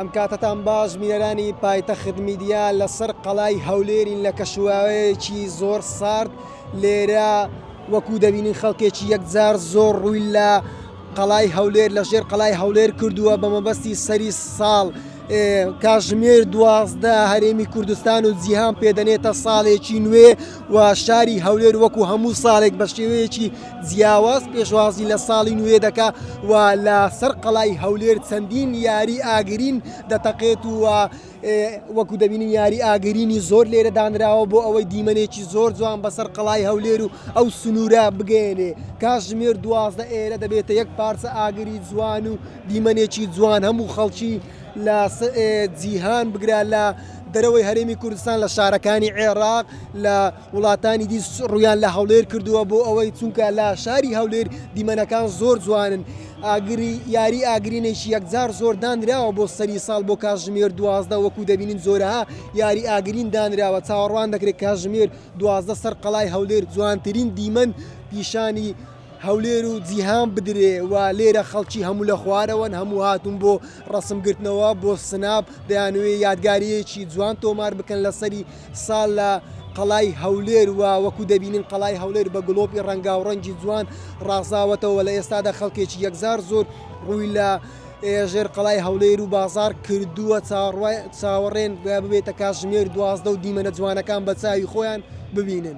ئەم کاتەتان باش بینەرانی پایتەخت میدیا لەسەر قەڵای هەولێرین لە کەشوهەوایەکی زۆر سارد لێرە وەکو دەبینین خەڵکێکی یەکجار زۆر ڕووی لە قەڵای هەولێر لە ژێر قەڵای هەولێر کردووە بە مەبەستی سەری ساڵ کاژمێر دوازدە هەرێمی کوردستان و جیهان پێدەنێتە ساڵێکی نوێ و شاری هەولێر وەکو هەموو ساڵێک بە شێوەیەکی جیاواز پێشوازی لە ساڵی نوێ دەکا و لە سەر قەڵای هەولێر چەندین یاری ئاگرین دەتەقێت و وەکو دەبینین یاری ئاگرینی زۆر لێرە دانراوە بۆ ئەوەی دیمەنێکی زۆر جوان بەسەر قەڵای هەولێر و ئەو سنوورە بگەێنێ کاژمێر دوازدە ئێرە دەبێتە یەک پارچە ئاگری جوان و دیمەنێکی جوان هەموو خەڵکی لە جیهان بگرە لە دەرەوەی هەرێمی کوردستان لە شارەکانی عێراق لە وڵاتانی دی ڕوویان لە هەولێر کردووە بۆ ئەوەی چونکە لە شاری هەولێر دیمەنەکان زۆر جوانن ئاگری یاری ئاگرینێکی یەکجار زۆر دانراوە بۆ سەری ساڵ بۆ کاژمێر دوازدە وەکو دەبینین زۆرەها یاری ئاگرین دانراوە چاوەڕوان دەکرێت کاژمێر دوازدە سەر قەڵای هەولێر جوانترین دیمەن پیشانی هەولێر و جیهان بدرێ و لێرە خەڵکی هەموو لە خوارەوەن هەموو هاتون بۆ ڕسمگرتنەوە بۆ سناپ دەیانوێ یادگاریەکی جوان تۆمار بکەن لەسەری ساڵ لە قەڵای هەولێر و وەکو دەبینین قەڵای هەولێر بە گڵۆپی ڕەنگاو ڕەنگی جوان ڕازاوەتەوە لە ئێستادا خەڵکێکی یەکزار زۆر ڕووی لە ژێر قەڵای هەولێر و بازار کردووە چاوەڕێن ببێتە کاتژمێر دوازدە و دیمەنە جوانەکان بە چاوی خۆیان ببینن.